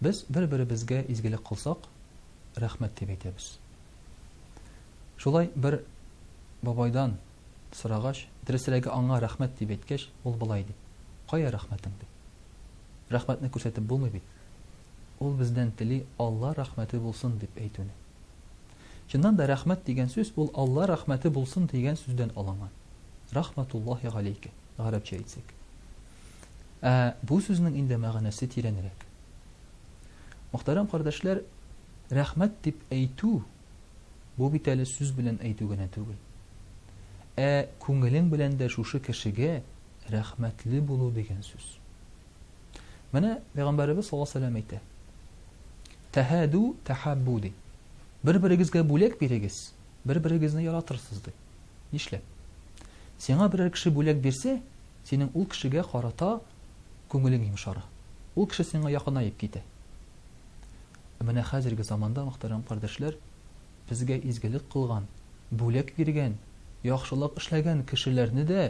Без бер-беребезгә изгелек кылсак, рәхмәт дип әйтәбез. Шулай бер бабайдан сорагач, дөресрәге аңа рәхмәт дип әйткәч, ул болай ди. Кая рәхмәтең ди? Рәхмәтне күрсәтеп булмый бит. Ул бездән тели Алла рәхмәте булсын дип әйтүне. Чыннан да рәхмәт дигән сүз ул Алла рәхмәте булсын дигән сүздән алынган. Рахматуллахи галейке, гарәпчә әйтсәк. Ә бу сүзнең инде мәгънәсе тирәнрәк. Мөхтәрәм кардәшләр, рәхмәт дип әйтү бу бит әле сүз белән әйтү генә түгел. Ә күңелең белән дә шушы кешегә рәхмәтле булу дигән сүз. Менә пәйгамбәребез саллаллаһу алейһи ва сәлләм әйтә. Тәһәду тәһаббу ди. Бер-берегезгә бүләк бирегез, бер-берегезне яратырсыз ди. Нишләп? Сиңа берәр кеше бүләк бирсә, синең ул кешегә карата күңелең йомшара. Ул кеше сиңа якынаеп китә. Ә менә хәзерге заманда, мөхтәрәм кардәшләр, безгә изгелек кылган, бүләк биргән, яхшылык эшләгән кешеләрне дә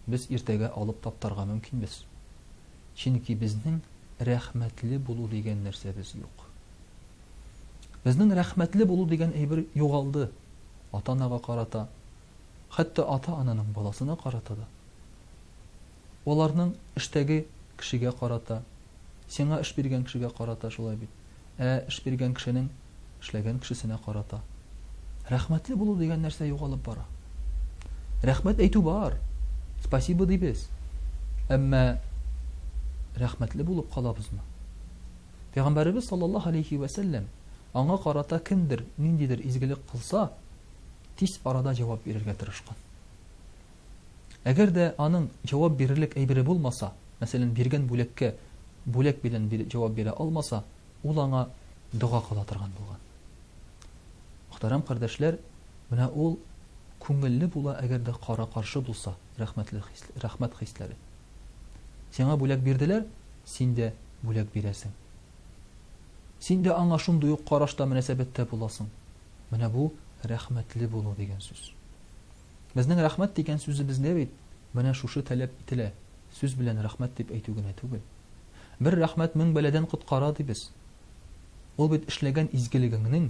без иртәгә алып таптарга мөмкинбез. Чөнки безнең рәхмәтле булу дигән нәрсәбез юк. Безнең рәхмәтле булу дигән әйбер югалды. ата-анага карата, хәтта ата-ананың баласына карата да, аларның эштәге кешегә карата, сиңа эш биргән кешегә карата шулай бит, ә эш биргән кешенең эшләгән кешесенә карата. Рәхмәтле булу дигән нәрсә югалып бара. Рәхмәт әйтү бар, спасибо дибез, әмма рәхмәтле булып калабызмы? Пәйгамбәребез саллаллаһу алейһи вә сәлләм, аңа карата кемдер ниндидер изгелек кылса, тиз арада җавап бирергә тырышкан. Әгәр дә аның җавап бирерлек әйбере булмаса, мәсәлән, биргән бүләккә бүләк белән җавап бирә алмаса, ул аңа дога кыла торган булган. Мөхтәрәм кардәшләр, менә ул күңелле була, әгәр дә кара-каршы булса, рәхмәтле хис, рәхмәт хисләре. Сиңа бүләк бирделәр, син дә бүләк бирәсең. Син дә аңа шундый ук карашта мөнәсәбәттә буласың. Менә бу рәхмәтле булу дигән сүз. Безнең рәхмәт дигән сүзебездә бит менә шушы таләп ителә. Сүз белән рәхмәт дип әйтү генә түгел. Бер рәхмәт мең бәладән коткара дибез. Ул бит эшләгән изгелегеңнең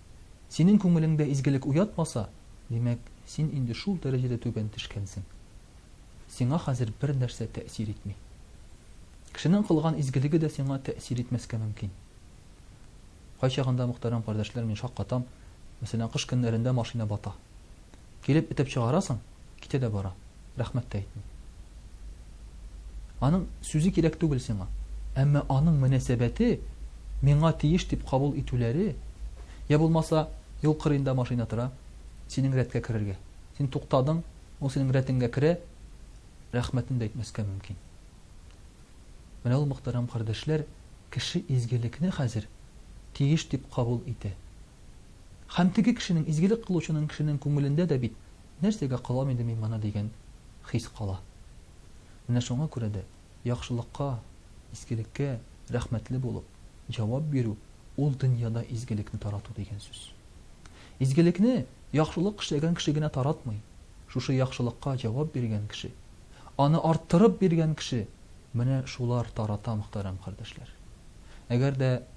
Синең күңелеңдә изгелек уятмаса, димәк, син инде шул дәрәҗәдә түбән төшкәнсең. Сиңа хәзер бер нәрсә тәэсир итми. Кешенең кылган изгелеге дә сиңа тәэсир итмәскә мөмкин. Кайчагында, мөхтәрәм кардәшләр, мин шаккатам, мәсәлән, кыш көннәрендә машина бата. Килеп этеп чыгара соң, китә дә бара, рәхмәт тә әйтми. Аның сүзе кирәк түгел сиңа. Әмма аның мөнәсәбәте миңа тиеш дип кабул итүләре, я булмаса, юл кырыенда машина тора, синең рәткә керергә. Син туктадың, ул синең рәтеңгә керә, рәхмәтен дә әйтмәскә мөмкин. Менә ул, мөхтәрәм кардәшләр, кеше изгелекне хәзер тиеш дип кабул итә. Һәм теге кешенең, изгелек кылучының кешенең күңелендә дә бит, Нәрсәгә кылам инде мин моны, дигән хис кала. Менә шуңа күрә дә яхшылыкка, изгелеккә рәхмәтле булып җавап бирү, ул дөньяда изгелекне тарату дигән сүз. Изгелекне яхшылык эшләгән кеше генә таратмый, шушы яхшылыкка җавап биргән кеше, аны арттырып биргән кеше, менә шулар тарата, мөхтәрәм кардәшләр. Әгәр дә.